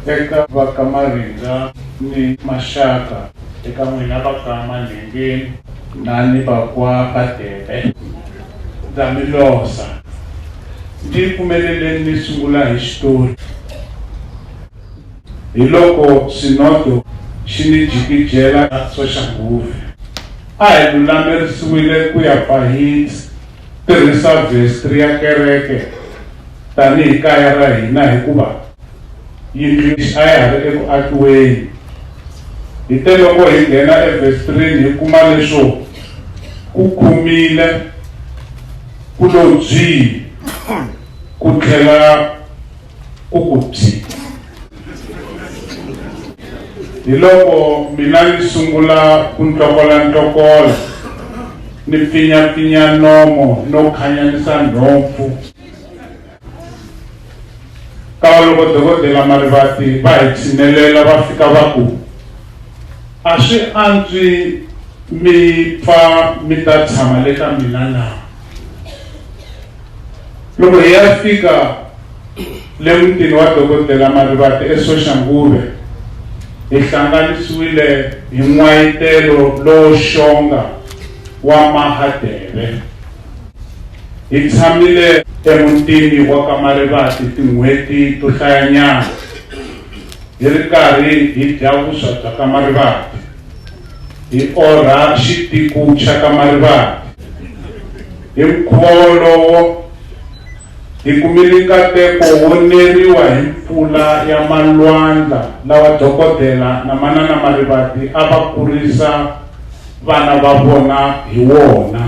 eka va ka Marindza ni maxaka eka n'wina va ka Manhengeni na ni va kwa Badebe ndza mi losa ndzi pfumeleleni ni sungula hi xitori Hiloko Xinodho xi ni jikijela ra Soshanghuve. A hi lulamerisiwile ku ya pfa hi tirhisa vestri ya kereke tanihi kaya ra hina hikuva yindlu a ya ha ri eku akiweni. Hi te loko hi nghena evestrini hi kuma leswo ku khumile ku lo byi ku tlhela ku ku byi hi loko mina ni sungula ku ntokola ntokola ni pfinyapfinya nomo no khanyanyisa nhompfu kava loko dokodela marivati va hi tshinelela va fika va ku a swi antswi mi pfa mi ta tshama le ka mina na Loko hi ya fika le mutini wa dokodela Marivate eSoshanguve, hi hlanganisiwile hi n'wayitelo lowo xonga wa Mahadeve. Hi tshamile emutini wa ka Marivate tin'hweti to hlayanyana hi ri karhi hi dya vuswa bya ka Marivate. hi orha xitiku xa ka Marivate. Hi mukhuva wolowo, hi kumile nkateko wo neriwa hi mpfula ya malwandla lawa dokodela na manana Marivate a va kurisa vana va vona hi wona.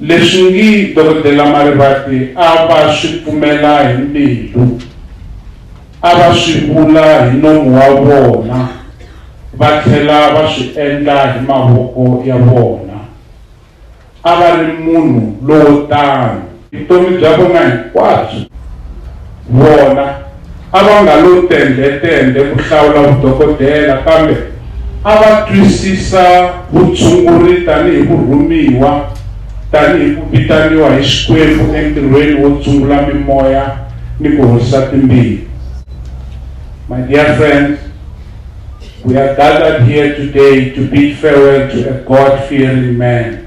Leswi ngi Dokodela Marivate a va swi pfumela hi mbilu, a va swi vula hi nomu wa vona va tlhela va swi endla hi mavoko ya vona. A va ri munhu lowo tano. Vutomi bya vona hinkwabyo vona. a va nga lo tendhe-tendhe ku hlawula vudokodela kambe a va twisisa vutshunguri tanihi vurhumiwa, tanihi ku vitaniwa hi Xikwembu entirhweni wo tshungula mimoya ni ku horisa timbilu. My dear friends, we are gathered here today to bid farewell to a God-fearing man.